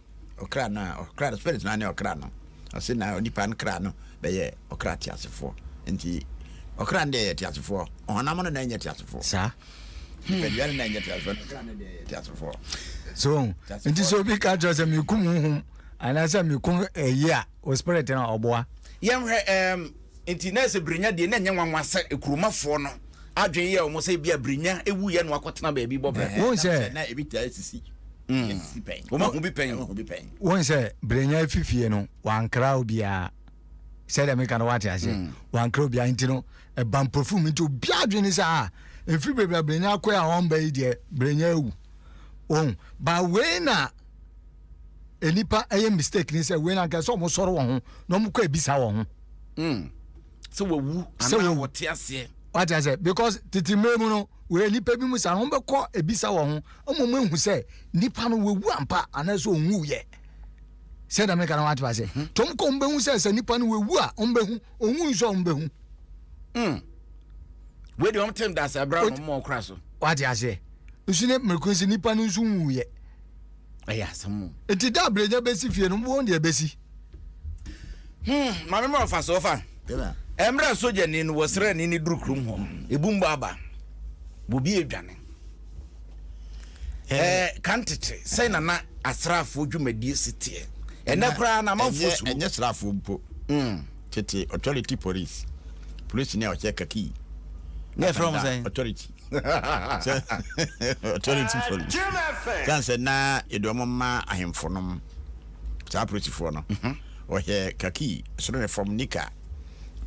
S3: Ɔkra no a,
S2: ɔkra no, spirit no ara ne ɔkra no. Ɔse na onipa no kra no bɛyɛ ɔkra teasefoɔ. Nti ɔkra no deɛ yɛ teasefoɔ, ɔhonam no na ɛnyɛ teasefoɔ. Saa. Nipadua
S3: no
S2: na ɛnyɛ teasefoɔ, na ɔkra no deɛ yɛ teasefoɔ. So,
S3: nti sɛ obi ka kyerɛ sɛ mekum honhom anaasɛ mekum ɛyi a, o spirit no ɔboa. Yɛnhwɛ um,
S1: Enti na sɛ Brenya deɛ, na ɛnyɛ nwanwa sɛ kuromafoɔ no adwene yɛɛ wɔn sɛ ebia Brenya wuiɛ na wakɔtena baabi bɔ bra. Wohu sɛ. Na ebi
S3: taa sisi.
S2: Esisi pɛn. Wɔn ahu bi pɛn. Wɔn ahu
S3: bi pɛn. Wohu sɛ Brenya efi fie no, wankra obiara. Sɛdeɛ meka no wate aseɛ. Wankra obiara nti no, ɛba mpofirim nti obiara adwene ne sɛ ah, mfiri bebree a Brenya akɔe a ɔmba yi deɛ, Brenya awu. Wohu? Ba wei na. nnipa ɛyɛ mistake ni sɛ wei na nkɛsɛ wɔn sɔrɔ wɔn ho na wɔn kɔ ebisa wɔn ho. Hmm. sɛ wawu
S1: anaa wɔte aseɛ. wate aseɛ because
S3: tete mmerɛ mu no wɔyɛ nnipa bi mu saa no wɔn bɛkɔ ebisa wɔn ho ama wɔn ehu sɛ nipa no wawu ampa anaasɛ onwu yɛ sɛ dɛm nka na wate aseɛ hmm. tɔm kɔ wɔn bɛhu sɛ sɛ nipa no wawu a wɔn bɛhu onwu nso a wɔn bɛhu. Hmm.
S1: wei de wɔn te ndase abira wɔn mɔ ɔkora so. wate aseɛ
S3: nso ne mmerɛ kun si nipa no nso nwu yɛ. ɛyɛ
S1: asɛm o. Nti da brenya
S3: bɛsi fie no won deɛ bɛsi. Hmm
S1: maame ma ɔfa so ɔfa. Ɛmrɛ sogyani no wɔ srani ne duru krom hɔ ebu mbɔ aba bobi adwane. Ɛɛ eh, kan tete sɛn na na asraafoɔ dwumadie si teɛ ɛnɛ koraa na amanfoɔ suru. Ɛnyɛ sraafoɔ mpo.
S2: Hmm. Tete authority police polisi ni a ɔhyɛ kakii. Ne ɛfrɛ wɔn
S1: sɛn? Authority.
S2: sɛ authority for kan sɛ na yɛde wɔn ma ahemfo nom saa apolisifoɔ no wɔhyɛ mhm. kaki soro ne fam nika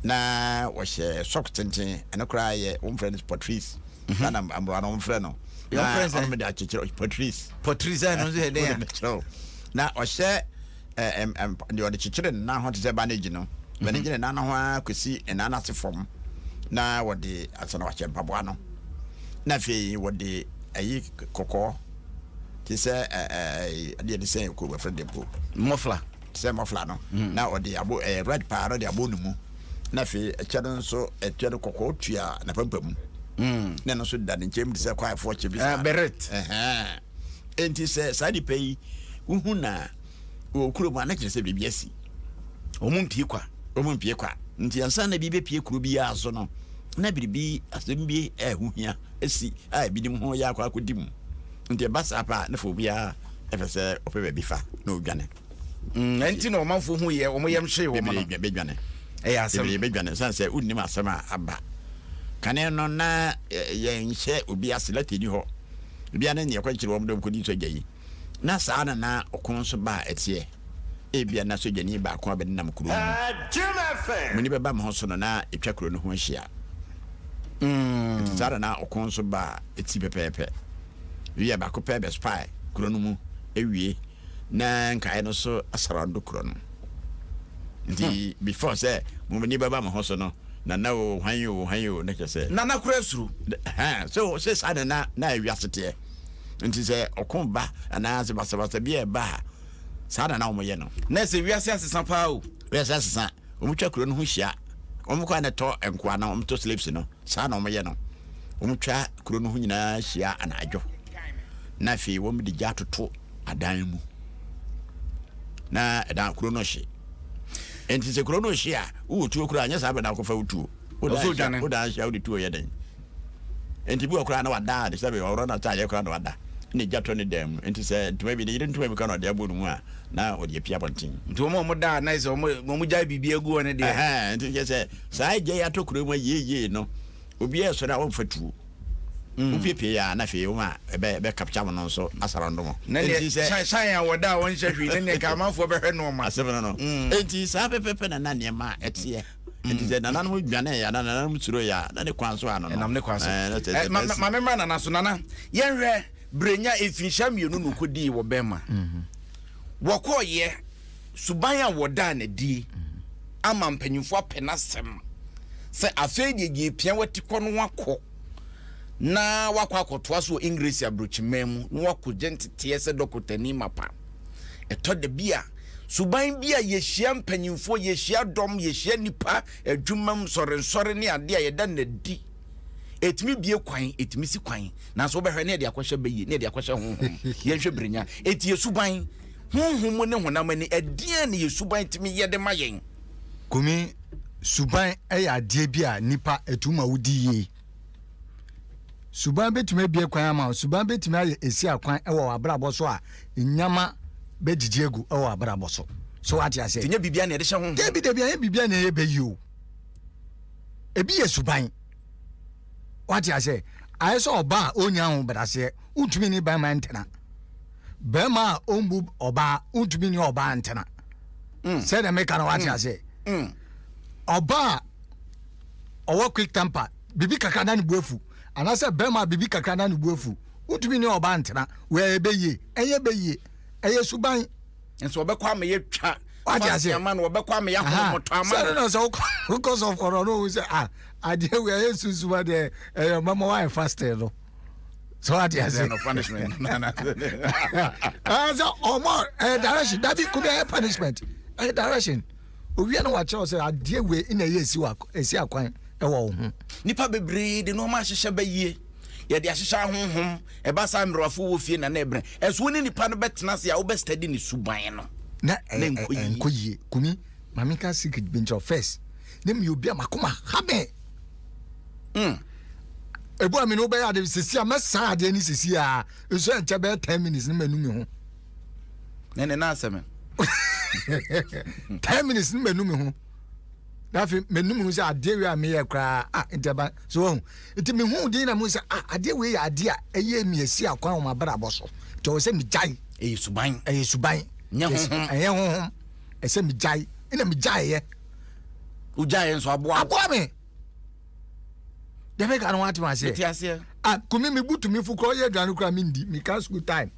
S2: na wɔhyɛ sɔk tenten ɛno koraa yɛ wɔn fɛ no patrice mhm. na amoa no wɔn fɛ no na wɔn de akyekyere patrice patrice ɛno nso yɛ
S1: dɛ na
S2: ɔhyɛ Ɛɛ, ɛm, ɛm, deɛ ɔde kyekyere ne nan ho te sɛ bandage no, na ne gyina ne nan no ho ara kɔsi ne nan no ase fam, na wɔde asɛ na wahyɛ mpaboa no, na afei wɔde ayi kɔkɔɔ te sɛ ɛɛ, ɛdeɛ de sɛn kuro wɔfrɛ de mpo. Mɔfla. Te
S1: sɛ mɔfla no,
S2: mm. na ɔde abo ɛɛ red paa na ɔde abo ne mu, na afei ɛkyɛ no nso ɛkyɛ no kɔkɔɔ tua na pampamu, mm. na ɛno nso da ne nkyɛn mu te sɛ kwaefoɔ kyɛ bi. Ɛɛ beret. Ɛhɛn. Enti sɛ saa nnipa yi wohu na wɔ kurom a, na kyerɛ sɛ biribi asi. Wɔn mpie
S1: kwa, wɔn mpie kwa. Nti ansa na
S2: bi bepie kuro biara so no, na biribi asɛm bi a ɛho hia asi a ebinom ho yɛ akɔ akɔdi mu. Nti ɛba saa paa na fa obiara ɛpɛ sɛ ɔpɛ baabi fa na odwane. mm, ɛnti
S1: na ɔmanfoɔ hu yɛ wɔn yɛm hyee wɔn no bɛdwane ɛyɛ
S2: asɛm bebree bɛdwane
S1: sane sɛ
S2: wonnim asɛm a aba kane no na yɛnhyɛ obi ase lati ni hɔ bia ne neɛ kwankyerɛ wɔm dɔm kɔdi sogya yi na saa na na ɔko nso ba a ɛteɛ ebia na sogyani baako a bɛdenam kuro mu muni bɛba mo ho so no na ɛtwa kuro no ho ahyia mm. nti saa na na ɔko nso ba a ɛti pɛpɛɛpɛ wiɛ baako pɛ bɛspae kuro no mu ɛwie na nkae no so asarando koro no. Nti before sɛ mo ani bɛba mo ho so no, Nana o, hwan o, hwan o, na kyerɛ sɛ. Nana kura suro.
S1: Ɛhɛn, so sɛ
S2: saa na na na wiase teɛ. Nti sɛ ɔko ba anaa sɛ basabasa bi a ɛba a, saa na na wɔyɛ no. Na ɛsɛ wiase asesa
S1: paa o. Wiase asesa,
S2: wɔtwa kuro no ho hyia, wɔkɔ a na ɛtɔ nkoa no, wɔtɔ slaves no, saa na wɔyɛ no. Wɔtwa kuro no ho nyinaa hyia anadwo, na afei wɔde gya atoto. adan mu na ɛda kuro no hye nti sɛ kuro no hye a wowɔ tuo koraa nyɛ saa bɛ na akɔfa wo tuo wodaa hyia wode tuo yɛ dɛn nti bi wɔ koraa na wadaa de sɛbe ɔworɔ no ataadeɛ koraa na wada na ɛgya tɔ ne dan mu nti sɛ ntoma bi ne yere ntoma bi ka na ɔde abɔ no mu a na ɔde apia bɔnten nti wɔn a wɔn daa na
S1: sɛ wɔn gyae biribi agu wɔn deɛ nti kyɛ sɛ
S2: saa agya yi atɔ kuro mu yieyie no obiara sɔre a wɔmfa tuo Wopiepie yɛ a, na hwee wom a ɛbɛ capture mo no nso asa rondo mo. Na neɛ shan shan
S1: a wɔda a wɔnhyɛ hwee na neɛ ka amanfoɔ bɛhwɛ noɔma. Asɛm no no. Enti
S2: saa pɛpɛpɛ na na nneɛma teɛ. Enti sɛ nananom dwaneeɛ anaa nananom suroeɛ a, na ne kwan so ano no. Ɛnam ne kwan so.
S1: Ma memmra nana so. Nana, yɛnhwɛ Brenya mfirinhyia mmienu na ɔkɔdii wɔ Burma. Wɔkɔɔeɛ. suban a wɔdaa no adie ama mpanyimfoɔ apɛ n'asɛm sɛ afei deɛ gye pia wati kɔ no wakɔ na wakɔ akɔtoa so wɔ English aburokyiman mu na wakɔ gye nteteɛ sɛ dɔkotani mapa ɛtɔ da bi a suban bi a yɛhyia mpanyimfoɔ yɛhyia dɔm yɛhyia nipa adwumam nsɔrensɔre ne adeɛ a yɛda no adi ɛtumi bie kwan ɛtumi si kwan nanso wobɛhwɛ ne ɛde akɔhyɛ bɛyie ne ɛde akɔhyɛ honhom yɛnhwɛ birinya ɛti yɛ suban Honhom mu ne honam ani, ɛdeɛn na yɛn suban tumi yɛ de ma yɛn? Kumi,
S3: Suban yɛ adeɛ bi a nnipa ɛtu ma wodi yie. Suban bɛtumi abue kwan ama wo. Suban bɛtumi ayɛ ɛsia kwan wɔ w'abrabɔ so a nneɛma bɛgyegye agu wɔ w'abrabɔ so. So wate aseɛ? Nti nyɛ biribiara na yɛde hyɛ honhom. Dabi
S1: dabi, anyɛ biribiara na ɛyɛ
S3: bɛyi o. Ebi yɛ suban. Wate aseɛ? Ayɛ sɛ ɔbaa a ɔnnya ahobraseɛ, wontumi ne ban ma ɛntena. bɛrima a ɔmbu ɔbaa wontumi ne ɔbaa ntena mm. sɛdeɛ meka no wate mm. aseɛ mm. ɔbaa ɔwɔ quick temper biribi kakra na ne bu afu anaasɛ bɛrima a biribi kakra na ne bu afu wontumi ne ɔbaa ntena wɔyɛ bɛyie ɛyɛ bɛyie ɛyɛ suban nso ɔbɛkɔ ama
S1: yɛ twa wate ase ama no
S3: ɔbɛkɔ ama yɛ ahomotɔ
S1: ama no sɛ no sɛ
S3: wokɔ sɔfɔrɔ no wo sɛ ah adeɛ wei ɛyɛ susuma deɛ ɛyɛ mama wayɛ fasting no sɛ wate ase sɛ ɔma ɛyɛ direction dabi ko bi ɛyɛ punishment ɛyɛ direction owia na wakyerɛw sɛ adeɛ wei na ɛyɛ ɛsi akwan ɛwɔ wo ho nipa bebree
S1: de nneɛma ahyehyɛ bɛyie yɛde ahyehyɛ ahonhom ɛba saa mmerɛwafo wɔ fie na na ɛbrɛ ɛso wo ne nipa no bɛtena ase a wobɛstadi ne suban no na
S3: ɛnkɔ yie kumi maame ka secret bi nkyerɛ first ne meyɛ obi a makoma ha bɛn Mm. Ebu a me ne wobɛyɛ ade sisi a mɛsan adeɛ ne sisi a nso ɛnkyɛ bɛyɛ ten minutes ne manu me ho. Ne
S1: ne naasɛ me.
S3: ten minutes ne manu me ho. Dafi manu me ho sɛ adeɛ wei a meyɛ koraa a ntɛba so wahu. Nti me hu din na mu sɛ a adeɛ wei yɛ adeɛ a ɛyɛ mi asi akwan wɔn abrabɔ so. Nti ɔwɔ sɛ megyae. Ɛyɛ suban. Ɛyɛ
S1: suban. Nyɛ
S3: honhom. Ɛyɛ honhom. Ɛsɛ megyae. Ɛna megyaeɛ.
S1: wogyae nso aboa aboa me
S3: dɛmɛ ka no wate maseɛ mete aseɛ a kumi
S1: me butu me
S3: fo kora ɔyɛ aduane kora mendi meka school time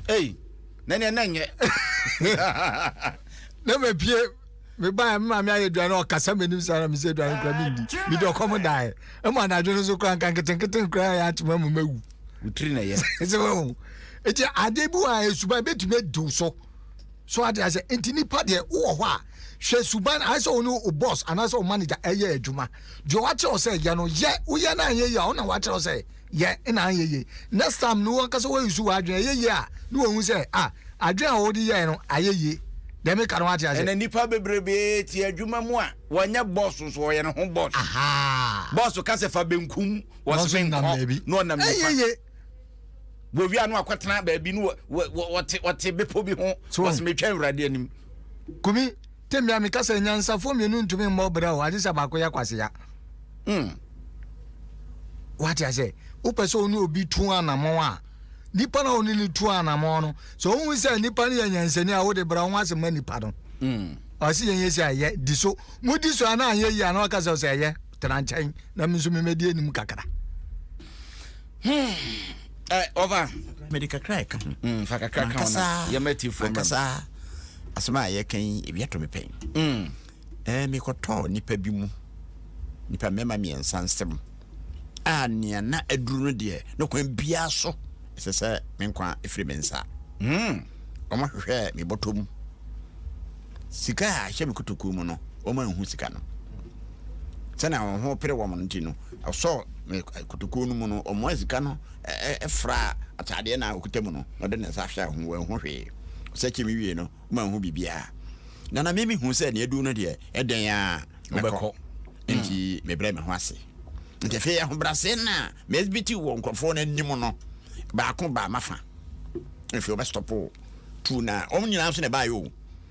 S3: ei
S1: na neɛ na nyɛ
S3: na mapie mebaɛ me maame ayɛ aduane ɔkasa m'anim saa na mesɛ aduane kora mendi mede ɔkɔm daeɛ ɛma anadwo no so kora nka nketenketen kora yɛ atema mu mawu wotiri na yɛ
S1: sɛ wahu
S3: nti ade bi wɔ a ɛsuban bɛtumi adiw so so ade asɛ nti nipa deɛ wowɔ hɔ a Hwɛ suban a ayɛ sɛ wo ne wo bɔs anaasɛ wo manegya reyɛ adwuma. Deɛ wakyerɛ wo sɛ yɛ no, yɛ. Woyɛ na anyɛ yie a, wo na wakyerɛ wo sɛ yɛ na anyɛ yie. Next time no, wo ankasa woayusu w'adwene. Ɛyɛ yie a, na wahu sɛ, ah, adwene a wode yɛeɛ no, ayɛ yie. Deɛ meka no, woate aseɛ? Ɛnnɛ, nnipa bebrebe
S1: te adwuma mu a, wɔnyɛ bɔs nso, wɔyɛ ne ho bɔs. Bɔs ka sɛ fa benkum, wɔse menkɔ, na ɔnam nifa. wɔwia no akɔtena baabi no wɔte bepɔ bi ho wɔsɛ metwa awurade anim kumi
S3: temmea meka sɛ nyansafoɔ mmienu ntumi mmɔ berɛ o agye sɛ baako yɛ kwasea hmm. wate asɛ wopɛ sɛ wo ne obi tu anammɔn a nipa na wo ne no tu anammɔn no sɛ wohu sɛ nipa no yɛ nyansani a wode bra ho ase ma nipa no hmm. ɔse yɛnyɛ si ayɛ di so modi so a na anyɛ yi a na waka sɛ ɔsɛ ɛyɛ tena nkyɛn na me nso memɛdi anim kakra
S1: ɔba hmm. mede kakra
S2: ɛka ho hmm, fa kakra ka
S1: ho yɛma tifoɔ ankasa
S2: asɛm a yɛka yi ebi ato me pɛn hmm. eh, mekɔtɔɔ nipa bi mu nipa mmarima mmiɛnsa nsɛm a nea na aduru no deɛ ne kwan biara so ɛsɛ sɛ me nkwa ɛfiri me nsa wɔn ahwehwɛ me bɔtɔ mu sika a ahyɛ me kotokuo mu no wɔn anhu sika no sɛnea wɔn ho pere wɔn no nti no, ɔsɔɔ akutukuo no mu no, ɔmoaa sika no fraa atadeɛ no a ɔkuta mu no, na ɔde ne nsa hwɛɛ ho, wanhu hwee. Ɔsɛkyee me wiee no, manhu biribiara. Na na me mehu sɛ nea aduru no deɛ, ɛdɛn ara mɛkɔ, enti mebrɛɛ me ho ase. Nti afei ahobrɛaseɛ no a me exhibit wɔ nkurɔfoɔ no anim no, baako baa m'afa. Afei wɔbɛstɔpo tuo no a, wɔn nyinaa nso na ɛbaeɛ o.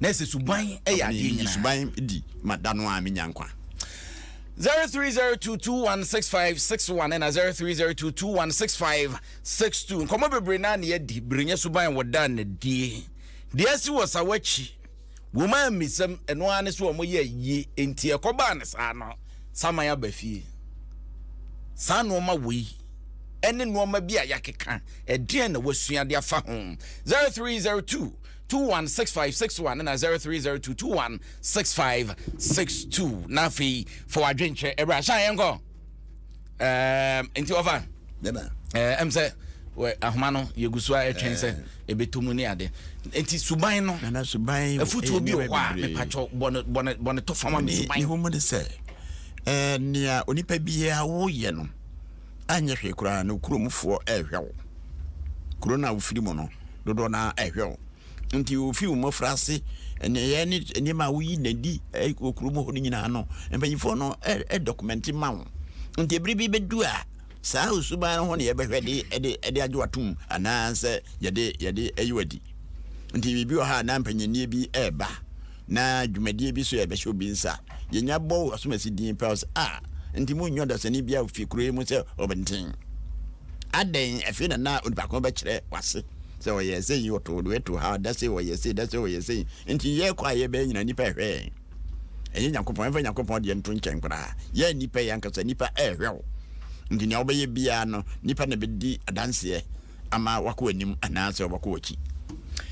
S2: Na ɛsɛ suban
S1: yɛ adeɛ nyinaa. Meyi suban di ma
S2: da no a menya nkwa. 0302216561
S1: ɛna 0302216562 nkɔmmɔ bebree na ne yɛdi berenya suban wɔ da na die deɛ asi wɔ sa wakyi wɔn a mmisɛm ɛno ara ne so wɔn yɛ yie enti ɛkɔbaa ne saa no saman aba fie saa nnoɔma wei ɛne nnoɔma bi a yɛakeka ɛdeɛn na wasua de afa ho 0302 two one six five six one na zero three zero two two one six five six two na afei fa wadwen kyerɛ ɛbrɛ ahyɛ ayɛ nkɔ ɛɛ nti ɔfa ɛɛ
S2: ɛm sɛ
S1: wɛ ahoma no yɛgu so a ɛtwɛn sɛ ɛbɛtɔ mu ne ade nti suban no nana suban afutuo
S2: bi wɔ hɔ a
S1: mepatwɔ bɔne bɔne bɔne tɔ fama me suban ne ho mu de sɛ
S2: ɛɛ nea onipa biara woyɛ no anyɛ hwee koraa no kuromfoɔ rehwɛ wo. Kuro no a wofiri mu no, dodoɔ no ara rehwɛ wo. Nti wofi wo mmɔfraase, nneyɛɛ ne nneɛma a woyi na di wɔ kurom hɔ no nyinaa no, mpanyinfoɔ no dɔkumɛnte ma wo. Nti bere bi bɛdu a, saa osuban no ho na yɛbɛhwɛ de de de agye watom anaasɛ yɛde yɛde ayi wadi. Nti biribi wɔ ha a na mpanyinnie bi reba. na dwumadie bi so a ɛbɛhyɛ obi nsa a, yɛnya bɔ wo asomasi din pɛ sɛ, ah, nti monnya ɔdasani biara wɔ fie kuro yi mu sɛ ɔbɛnten? Adɛn, afei na na onipa ko bɛkyerɛ w'ase sɛ ɔyɛɛ sei, ɔtoo wei too ha, da sei ɔyɛɛ sei, da sei ɔyɛɛ sei, nti yɛkɔ a yɛbɛyɛ nyinaa nnipa ɛhwɛ yɛn. Ɛnyɛ Nyankopɔn, yɛmfa Nyankopɔn deɛ nto nkyɛn koraa. Yɛn nnipa yi ankasa, nnipa ɛhwɛ wo. Nti nea wobɛyɛ biara no, nnipa na ɛbɛdi adanseɛ. ama wakɔ w'anim anaasɛ ɔbɛkɔ w'akyi.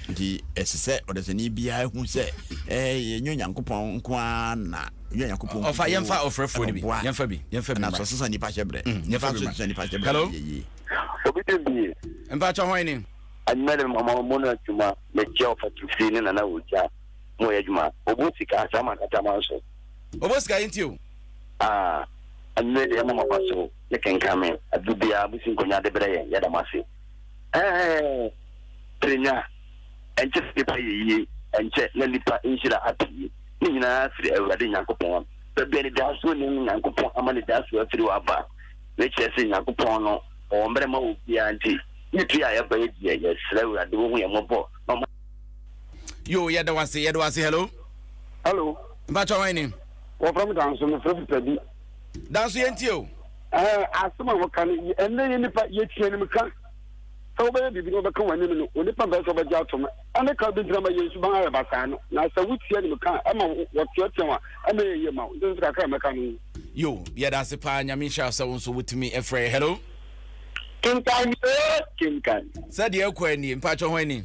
S2: Nti ɛsɛ sɛ ɔdasani biara hu sɛ ɛnyɛ Onyankopɔn nko ara na yɛ Onyankopɔn kukuo. Ɔfa yɛnfa ɔfrɛfoɔ
S1: no bi. Yɛnfa bi. Yɛnfa bi. Anaso sesa nipa
S2: hyɛ brɛ. Mm, yɛnfa bi ma. Sesa nipa hyɛ
S1: brɛ. Hello. Obi dɛm
S13: bi ye. Mpatsɔ
S1: hɔn ni. Anumɛlɛ mama
S13: mo na adwuma mɛkyɛ ɔfa tufi ne nana wogya mo yɛ adwuma ɔbɔ sika saa ma nkata ma nso. Ɔbɔ sika yi nti
S1: o. Aa
S13: anumɛ deɛ mama ba so. ne kenkan me ade biara mo si nkonya de brɛ yɛn yɛda mo ase ɛɛɛɛ tirenya ɛnkyɛ sɛ nipa yɛ yie ɛnkyɛ na nipa nhyira apue ne nyinaa firi awurade nyankopɔn baabi a nidasoɔ nim no nyankopɔn ama nidasoɔ afiri hɔ aba ne kyerɛ sɛ nyankopɔn no ɔwɔ mmerɛ ma wɔ biara nti ne pie a yɛba yɛ deɛ yɛsrɛ awurade wɔhu yɛ mmɔbɔ na ɔma
S1: yo yɛda wase yɛda wase hello hello
S13: mpakyɛ wɔn ni
S1: wɔfrɛ me danso
S13: mefrɛ fita bi Danso yɛntie
S1: o. Ɛɛ asɛm a
S13: wɔka no yɛ ɛnna yɛ nipa yɛtie anim ka sɛ wobɛyɛ biribi na wɔbɛka w'anim no onipa mpɛ sɛ ɔbɛgye atom ɛne ka bi ntina ma yɛn suban ayɛ basaa no na sɛ wotie anim ka a ɛma wɔteatea a ɛna yɛ yie ma wo nti nso kakra a mɛka no yo yɛda ase
S1: paa nyame nhyira wo sɛ wo nso wotumi ɛfrɛ hello kenkan ee
S13: kenkan sɛdeɛ ɛkɔ anie
S1: mpakyɛ ho ani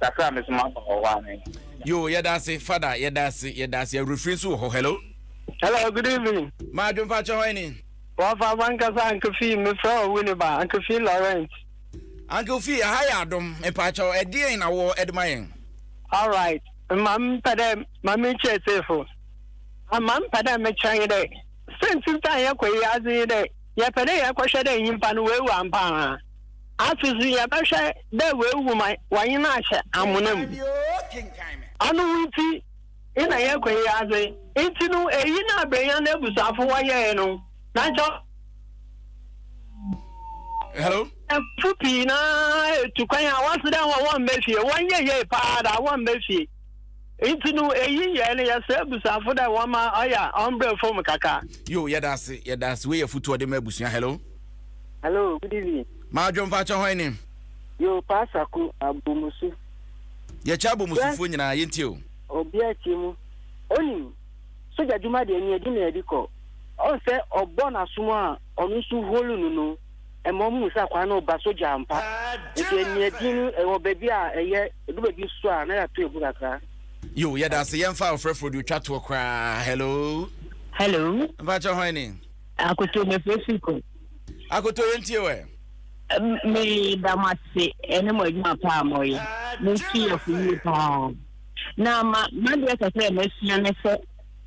S13: kakra me so maba wɔ hɔ ane. Yo, yɛda ase,
S1: fada, yɛda ase, yɛda ase, awurafiri nso wɔ hɔ, hello. Hello, good
S7: evening. Maa adwompa akyɛ hɔ
S1: ɛni. Wɔfa afa
S7: nkasa Uncle Fee, me frɛ wɔ wini ba, Uncle Fee Laurent. Uncle Fee,
S1: aha yɛ adom, mpaakyɛ wɔ ɛdeɛn na wɔ ɛdema yɛn? Alright,
S7: ma mpɛ dɛ ma me kyɛ sefo, ma mpɛ dɛ me kyerɛ nye dɛ, sɛ ntintan yɛ kɔ yi adze nye dɛ, yɛpɛ dɛ yɛkɔhwɛ dɛ nyimpa no oewu ampa anaa. Afei so yɛbɛhwɛ dɛ oewu ma wɔnye no ahyɛ amona mu. Ɔno ntsi na yɛkɔ yi ase. Ntsi no, iyi na Abrenya n'ebusuafo wɔyɛe no, na nkyɛ
S1: ɔyɛfo pii no
S7: ara etu kwan a wɔse dɛ hɔn mba fie. Wɔnnyɛ yie paa da, wɔmba fie. Nti no eyi yɛ no yɛsɛ abusuafo dɛ wɔma ɔya ɔmbrɛ fam kakra. Yo yɛda ase
S1: yɛda ase wei yɛ futu ɔde ma abusua hello. Hello good
S14: evening. Madwo mpakyɛ hwan
S1: ni. Yo paa
S14: saku abomusu. Yɛkyɛ
S1: abomusufoɔ nyinaa yɛntie o. Obia tie mu
S14: onim sogya dwuma deɛ neɛ ɛdi na ɛdi kɔ ɔn sɛ ɔbɔ nasom a ɔno nso holu no no. ɛma ɔmo hu sɛ akwaa no ɔba sogya ampa. Nti ɛnea din no ɛwɔ baabi a ɛyɛ ɛdu baabi nso a na yɛato egu kakra. Yo yɛda ase
S1: yɛn fa ɔfrɛfrɛ deɛ otwa toɔ koraa hello. Hello. Mpakyɛ hwan ni.
S15: Akoto mefrɛ firi kɔ. Akoto yɛn
S1: tie wɛ. Me
S15: da mo ase ɛne mo adwuma paa mo yɛ mo nsi yɛ fo yie paa na ma ma deɛ sɛ sɛ ɛmɛ sua ne sɛ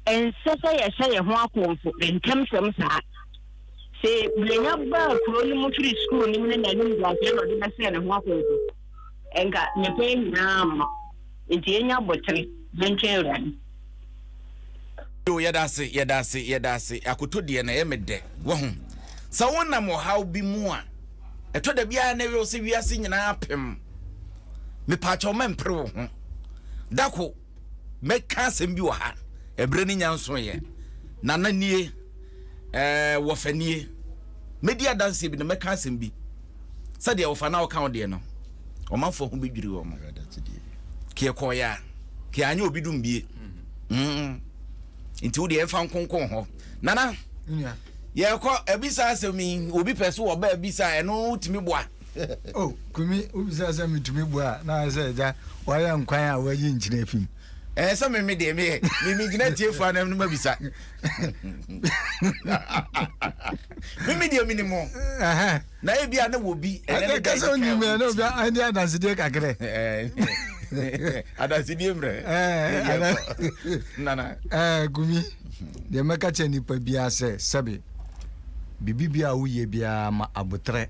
S15: ɛnsɛ sɛ yɛhyɛ yɛn ho akɔnfo ntɛmtɛm saa. Se Brenya baa kuro no mu firi sukuu no mu ne n'animguaseɛ na ɔde bɛsɛɛ ne ho akɔnkɔ. Nka ne pɛn nyinaa mma. Enti yɛnyɛ
S1: abotere na ntwɛn Awurade. Yoo yɛda ase yɛda ase yɛda ase akoto deɛ na ɛyɛ me dɛ wahu sɛ wonam ɔhaw bi mu a ɛtɔ da biara na ɛyɛ sɛ wiase nyinaa pem mepaakyɛw ma mpere wo ho dako mɛka asɛm bi wɔ ha, ɛberɛ no nya nsoeɛ, nana nie, ɛɛ wɔfa nie, mɛdi adanseɛ bi na mɛka asɛm bi sɛdeɛ wɔfa na wɔka wo deɛ no, ɔmanfoɔ ho bɛdwiri wɔn mo. Keɛ kɔɔyɛ a, keɛ anyɛ obi dum bie. Mm. Nti wo deɛ ɛmfa nkonkon hɔ. Nana,
S3: yɛkɔ
S1: ɛbisa asɛm yi, obi pɛ so wɔ bɛ ɛbisa ɛno tumi boa. Oh, Kumi,
S3: wobisa sɛ metumi bua a, na ayɛ sɛ agya wayɛ nkwan a wayi nkyene afi mu. Ɛɛ sɛ me me deɛ
S1: meyɛ me me gyina tiefo anam no ma bisa. Me me deɛ menim ho. Na ebi a na wɔ bi ɛnɛ ne da ɛdi kan
S3: wɔ ti. Ɛdi adansedie kakra.
S1: Adansedie mmerɛ. Ɛɛ, nana. Ɛɛ, Kumi.
S3: Deɛ mɛka kyerɛ nipa biara sɛ, sɛbe biribi biara a woyɛ biara ma aboterɛ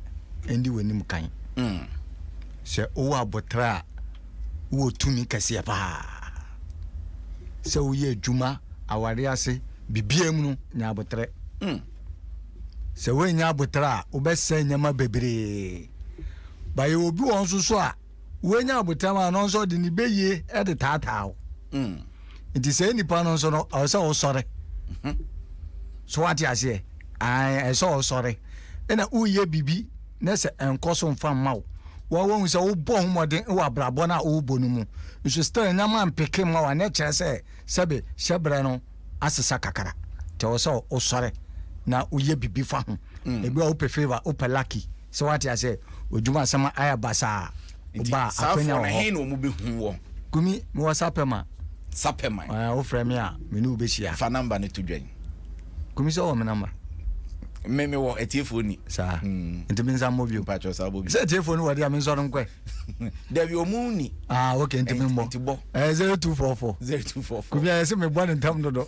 S3: ndi w'anim kan. Mm. Sɛ wowɔ aboterɛ a, wowɔ tumi kɛseɛ paa. Sɛ woyɛ adwuma, awareɛ ase, biribiara mu no, nya aboterɛ. Mm. Sɛ woannya aboterɛ a, wobɛsɛe nneɛma bebree. Ba yɛwɔ bi wɔn nso so a, woanya abotam a no nso ɔde ne bɛyie de taataa wo mm. nti sɛ nnipa no nso no ɛwɔ sɛ wosɔre mhm. so wate aseɛ ɛwɔ sɛ wosɔre ɛna woyɛ biribi na sɛ ɛnkɔ so mfa mma wo wɔwɔhu sɛ wobɔ ho mmɔden wɔ abrabɔ no a wobɔ no mu nso still nyama mpeke mma wa na ɛkyerɛ sɛ sɛbe hyɛ berɛ no asesa kakra nti ɛwɔ sɛ wosɔre na woyɛ biribi fa ho mm. ebi a wopɛ favor wopɛ lucky Sɛ wate aseɛ, odwuma asɛm ayɛ basaa. Oba a, akwanya wɔ hɔ. Nti, saa foɔ no, he na wɔn bɛhu wɔ?
S1: Kumi, mewɔ
S3: Sapɛma. Sapɛma? Ɛɛ,
S1: wofrɛ me a,
S3: me ne wo bɛhyia. Fa namba no to dwan.
S1: Kumi, sɛ wowɔ
S3: me namba? Me, mewɔ,
S1: atiefoɔ ni. Saa? Mm.
S3: Nti mensa mmɔ bio? Mpakyɛw, saa bɔ bio. Sɛ atiefoɔ ni
S1: wɔ deɛ a, mensɔre
S3: nkɔɛ? Dabi,
S1: wɔn nni. Ah, ok, nti memmɔ.
S3: Nti bɔ. Ɛɛ, 0244. 0244. Kumi, ayɛ sɛ mebɔ no ntɛm dodo.